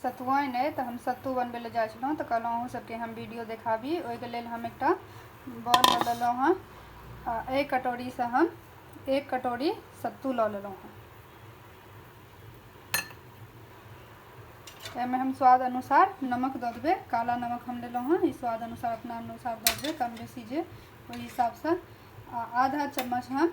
सतुआइन अइ तऽ हम सत्तू बनबै लए जाइ छलहुँ तऽ कहलहुँ अहूँ सबके हम वीडियो देखाबी ओहिके लेल हम एकटा बॉल लऽ लेलहुँ हँ आ एहि कटोरीसँ हम एक कटोरी सत्तू लऽ लेलहुँ हँ एहिमे हम स्वाद अनुसार नमक दऽ देबै काला नमक हम लेलहुँ हँ ई स्वाद अनुसार अपना अनुसार दऽ देबै कम बेसी जे ओहि हिसाबसँ आ आधा चम्मच हम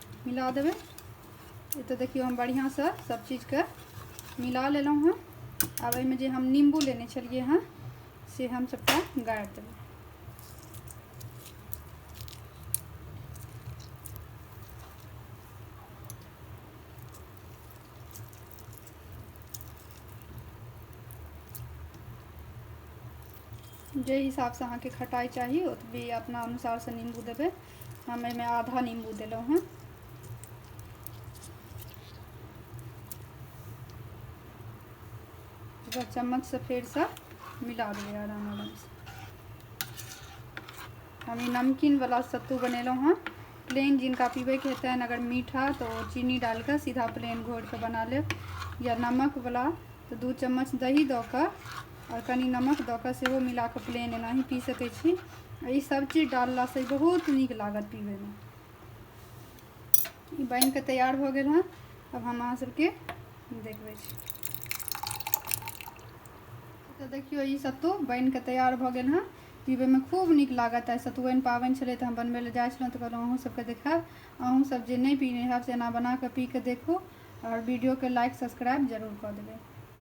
मिला देबै एतऽ देखियौ हम बढ़िआँसँ सब चीजके मिला लेलहुँ हँ आब एहिमे जे हम नींबू लेने छलियै हँ से हम सबटा गाड़ि देबै जे हिसाबसँ अहाँके खटाइ चाही ओतबी अपना अनुसारसँ नींबू देबै हम एहिमे आधा नींबू देलहुँ हँ एकरा चम्मचसँ फेरसँ मिला देबै आराम आरामसँ हम ई नमकीनवला सत्तू बनेलहुँ हँ प्लेन जिनका पीबैके हेतनि अगर मीठा तऽ ओ चीनी डालि कऽ सीधा प्लेन घोरि कऽ बना लेब या नमकवला तऽ दू चम्मच दही दऽ कऽ आओर कनि नमक दऽ कऽ सेहो मिला कऽ प्लेन एनाही पी सकै छी ई सभचीज डाललासँ बहुत नीक लागत पीबैमे ई बनि कऽ तैयार भऽ गेल हँ अब हम अहाँ सभके देखबै छी तऽ देखियौ ई सत्तू बनि कऽ तैयार भऽ गेल हँ पीबैमे खूब नीक लागत आइ सतुआइन पाबनि छलै तऽ हम बनबै लए जाइ छलहुँ तऽ कहलहुँ अहूँ सभके देखायब अहूँ सभ जे नहि पीने हैब से एना बना कऽ पी कऽ देखू आओर वीडियोके लाइक सब्सक्राइब जरूर कऽ देबै